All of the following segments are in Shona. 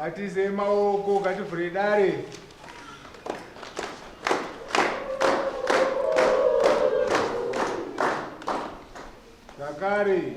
Atize maoko ngativhure dare. Zakari.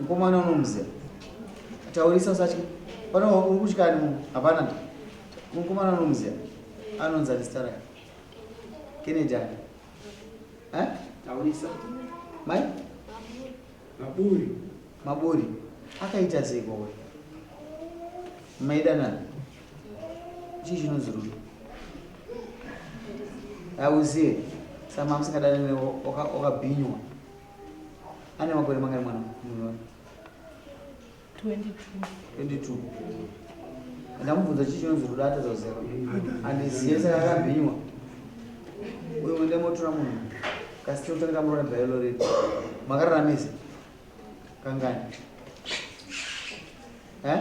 Mkomana unomuziva. Taurisa usatye. Pano uri kutyani mu hapana. Mkomana unomuziva. Anonzi ani stara. Kennedy ani. Eh? Taurisa. Mai? Maburi. Maburi. Akaita sei kwawe? Maida nani? Chii chinonzi rudo? Auzive. Samamusingadane newe wakabhinywa. Oka ane makore mangani mwana munhu 22 ndamubvunza chii chinonzi rudo atadza kuziva andizive saka akabhinywa uyo mwende motora munhu kasi tinotanga tamurona bhailo redu makararamisa kangani eh?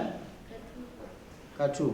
katu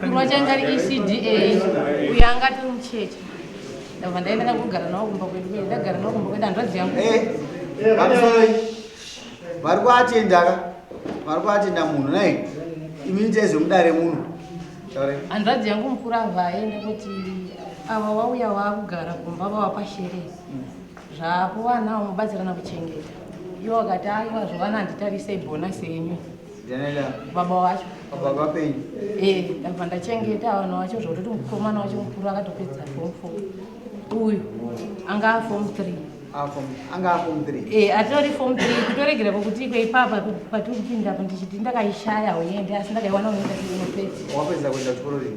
kurwa changa ari ecda uyo anga ati mucheche ndabva ndaenda ndakugara nawo kumba kwedu kwedu ndagara nawo kumba kwedu hanzvadzi yangu eh, vari kuatendaka vari kuatenda munhu nai imi nitezvemudare munhu hanzvadzi yangu mukuru avhaenda kuti ava wauya waakugara kumba vavapasherei Zvapo vana mubatsirana kuchengeta. Iwo akati aiwa zvovana handitarisei bonasi yenyu. Janela. Baba wacho. Baba vapenyu. Eh, ndabva ndachengeta vana wacho zvokutoti mukomana wacho mukuru akatopedza form 4. Uyu anga form 3. Ah, form anga form 3. Eh, atori form 3 kutoregera kuti ikwe ipapa patiri kupinda apo ndichiti ndakaishaya hoyende asi ndakaiwana unoita kuti unopedza. Wapedza kuenda kuchikoro rini?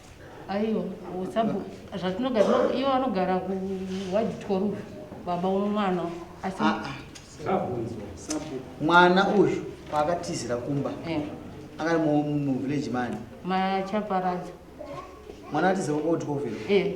aiwa usabu zvatinogara no- ivo vanogara kuwaditwa rufu baba womwana asi Ah, ah. Sabunzwa. Sabunzwa. mwana uyu paakatizira kumba eh, akari mu- mu- muvillage mani machaparadza mwana atizira kwakuti kwovhera eh,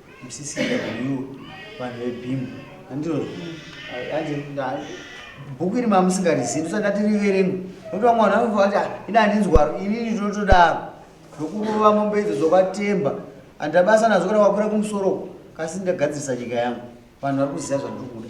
musisina you vanhu vebhimu andiro bhuku iri mamusingarizivi ndisati ndati riverengwe nokuti vamwe vanhu vanofa kuti ah, ini handinzwaro inini ndinotodaro ndokurova mombe idzo dzokatemba handabasa nadzo kana wakwira kumusoro kasi ndagadzirisa nyika yangu vanhu vari kuziva zvandiri kuda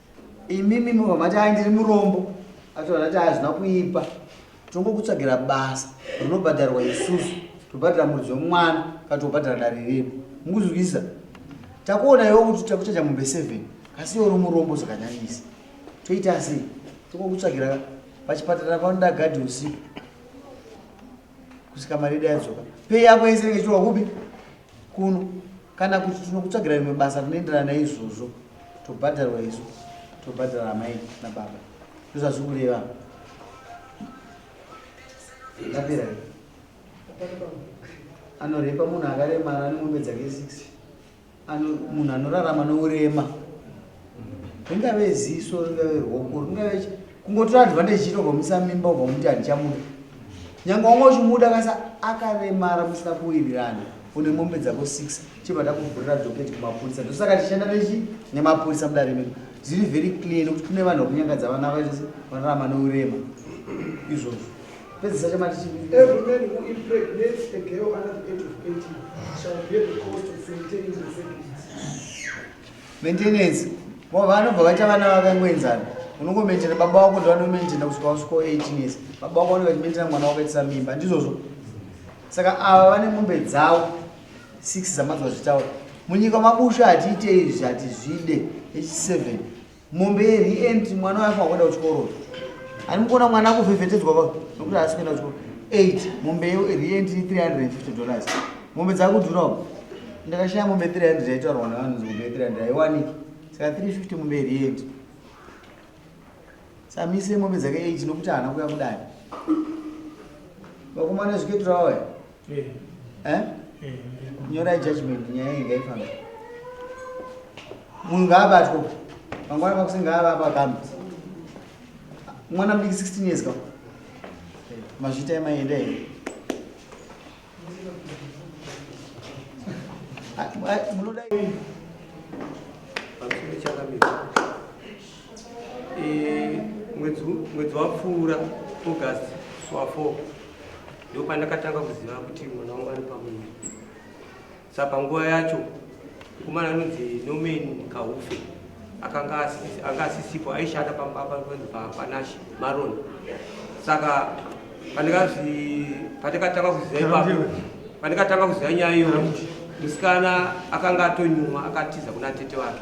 imimi mobva mati ai ndiri murombo atoona kuti hazvina kuipa tongokutsvagira basa rinobhadharwa isusu tobhadhara muridzi wemwana kana tobhadhara dare redu mukuzwisa takuona iwo kuti takuchacha mombe seven asi iwo uri murombo zvakanyanyisa toita asi tongokutsvagira pachipatara panoda gadhi usiku kusvika mari yedu yadzoka pei yako yese inenge ichiwa kupi kuno kana kuti tinokutsvagira rimwe basa rinoenderana naizvozvo tobhadharwa isu tobhadhara amai nababa ndozvazviri kureva apera anorepa munhu akaremara anemombe dzake six munhu anorarama nourema ringave ziso ringave ruoko ringave kungotora advantage chito ukamisa mimba ukamuti handichamuda nyange wanga uchimuda kasa akaremara musina kuwirirana une mombe dzako six chibva ndakuvhurira doketi kumapurisa ndosaka tichishanda nechi nemapurisa mudare medu zviri very clear nekuti kune vanhu vakunyangadza vana vaitose vanorama neurema izvozvo pedzisa chamati chii Maintenance. Vamwe vanobva vaita vana vakangoenzana. Unongomentena baba wako ndovanomentena kusvika wasvika 18 years. Baba wako vanenge vachimentena mwana wakaitisa mimba. Ndizvozvo. Saka ava vane mombe dzavo 6 dzamadzwa zvitaura. Munyika mabusha hatiite izvi hatizvide. H7. mombe yerent mwana wayo afangoenda kuchikoro ani mukuona mwana akuvhevhetedzwa pa nokuti haasi kuenda kuchikoro eight mombe yerent 350 dollars mombe dzakudhurawo ndakashaya mombe 300 yaitaurwa navanhu mombe 300 haiwaniki saka 350 mombe yerent samise mombe dzake eight nokuti haana kuya kudani vakomana zviketura waya Eh? Eh, nyora judgment nyaya iyi ngaifamba munhu ngaabatwa mangwana makusi ngaavapa kambi mwana mudiki 16 years ka mazvita emaenda here Ah, ah, munoda Eh, mwedzi wapfuura august swa 4 ndo pandakatanga kuziva kuti mwana wangu ari pamuviri sa panguva yacho mukomana anonzi nomen kaufe akanga asisipo aishanda pambapanzi papanashe maron saka pandikatanga kuziva ipapo pandikatanga kuziva nyaya iyo musikana akanga atonyuma akatiza kuna tete wake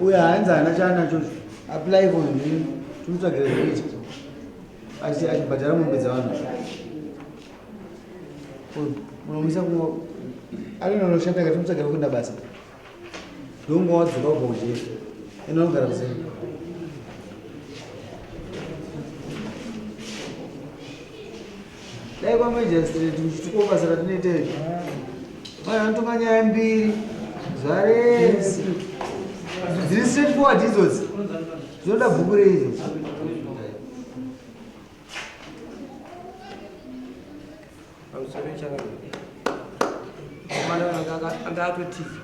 uyo haanzi hana chaanacho apply for ndini timutsvagire zvekuita achibhadhara mombe dzavanhu unomisa kungo alina unoshanda kati mutsvagire kuenda basa ndongo wadzoka ubva kujeri enda unogara kuseri dai kwamajistrate muchitukawo basa ratinoita izvi mai vanotonga nyaya mbiri zvarese dziri straight forward idzodzi dzinoda bhuku reizvo anga atotiza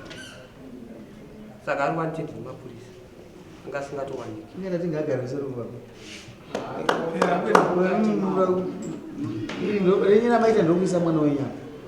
saka ari wanted nemapurisa anga asingatowaniki ingana tingagarise ruva renyina maita ndokuisa mwana wenyama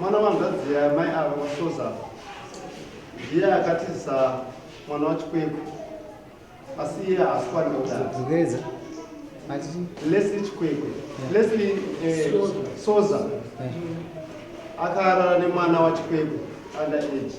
Mwana wanzvadzi yamai ava kushoza ndiye akatiza mwana wachikwekwe asi iye haasi kwanira kudaro lesli chikwekwe lesli eh, soza akarara nemwana wachikwekwe under age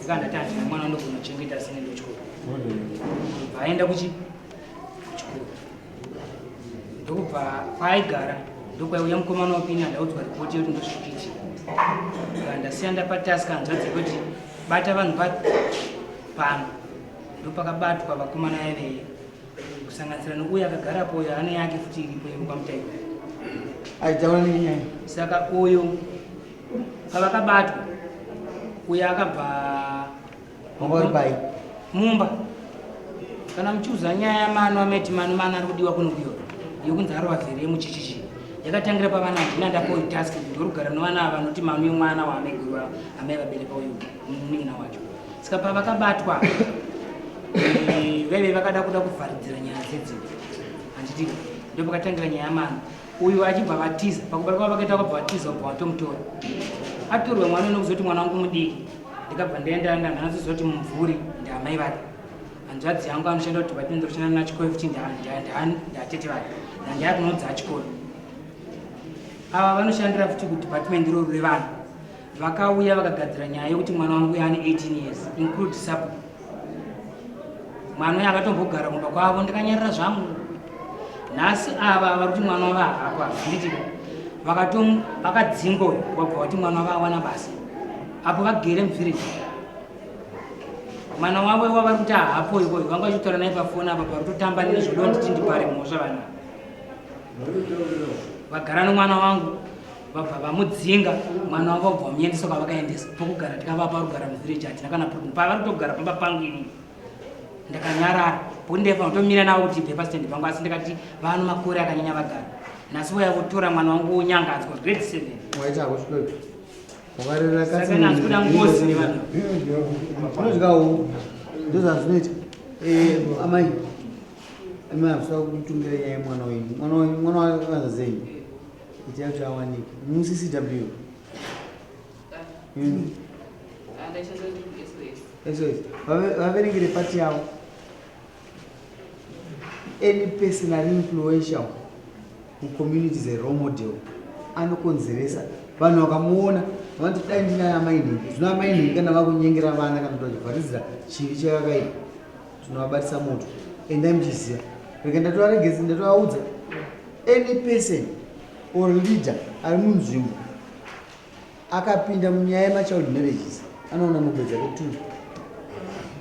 Zikanda tati mwana ndogona kuchengeta sine ndochikoro. Ndobva aenda kuchi kuchikoro. Ndokubva paaigara ndokwaiuya mukomana wapinda ndaudzwa ripoti yekuti ndosvikiti. Ndasiya ndapa task hanzvadzi kuti bata vanhu va pano. Ndopakabatwa vakomana veveye kusanganisira nokuya akagarapo uyo ane yake futi iripo yekupamutaiko. Aijaona nenyaya. Saka uyo pavakabatwa uye akabva mumbai mumba kana muchiudza nyaya yamano ameti mano mano ari kudiwa kunokuyo yokunzi arova zere muchichichi yakatangira pavana ndina ndapoyi task ndorugara novana ava vanoti mano yemwana waamegurwa amai vabereka uyu munin'ina wacho saka pavakabatwa eh, vaive vakada kuda kuvharidzira nyaya dzedzimba handiti ndopakatangira nyaya yamano uyu achibva vatiza pakubara kwavo vakaita vakabva vatiza kubva vatomutora atorwa mwana unokuzoti mwana wangu mudiki ndikabva ndaenda ndanhanazozoti mumvuri ndiamai vake hanzvadzi yangu anoshanda kuti vatinoenda kushanda nachikoro futi ndatete vake ndandaya kunodza achikoro ava vanoshandira futi kudepartment iroro revanhu vakauya vakagadzira nyaya yekuti mwana wangu yaane 18 years include sub mwana uyo akatombogara kumba kwavo ndikanyarira zvangu nhasi ava vari kuti mwana wavo hako hazviti vakatom vakadzinga uyo wabva vati mwana wavo awana basa apo vagere muvhireji mwana wavo iwa vari kuti hapo ikoyo vanga vachitaura naye pafoni apa parutotamba nezvodo nditi ndipare mhosva vana vagara nomwana wangu vabva vamudzinga mwana wavo vabva vamuendesa kwavakaendesa pokugara tikavapa rugara muvhireji hatina kana problem pavari kutogara pamba pangu ini ndakanyarara pokuti ndaifanira kutomira navo kuti ibve pasitendi pangu asi ndikati vano makore akanyanya vagara nhasi vaya votora mwana wangu wonyangadzwa grade seven wakarerakasakanazikuda ngozi nevanhu unodyawo ndozvazvinoita eh, amai amai havisa kutungira nyaya yemwana wenyu mwana wenyu mwana wakanza zenyu Itai kuti awanike. Mm, CCW. Mm. SOS. Vave- Vaverengere pati yavo. Any person ari influential mucommunity is a role model. Anokonzeresa vanhu vakamuona vanoti dai ndina amai nhingi. Zvino amai nhingi kana vakunyengera vana kana kuti vachivharidzira chivi chakakaipa tinovabatisa moto. Endai muchiziva. Rega ndatovaregedza ndatovaudza. any person or leader ari munzvimbo akapinda munyaya yemachild marriages anoona mugwedza kutu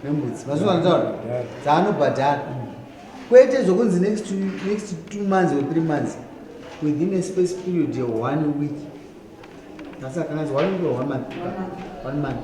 nembudzi mazuva anotaura dzaanobhadhara kwete zvokunzi next two months or three months within a space period of one week asi akanganzi one week or one month one month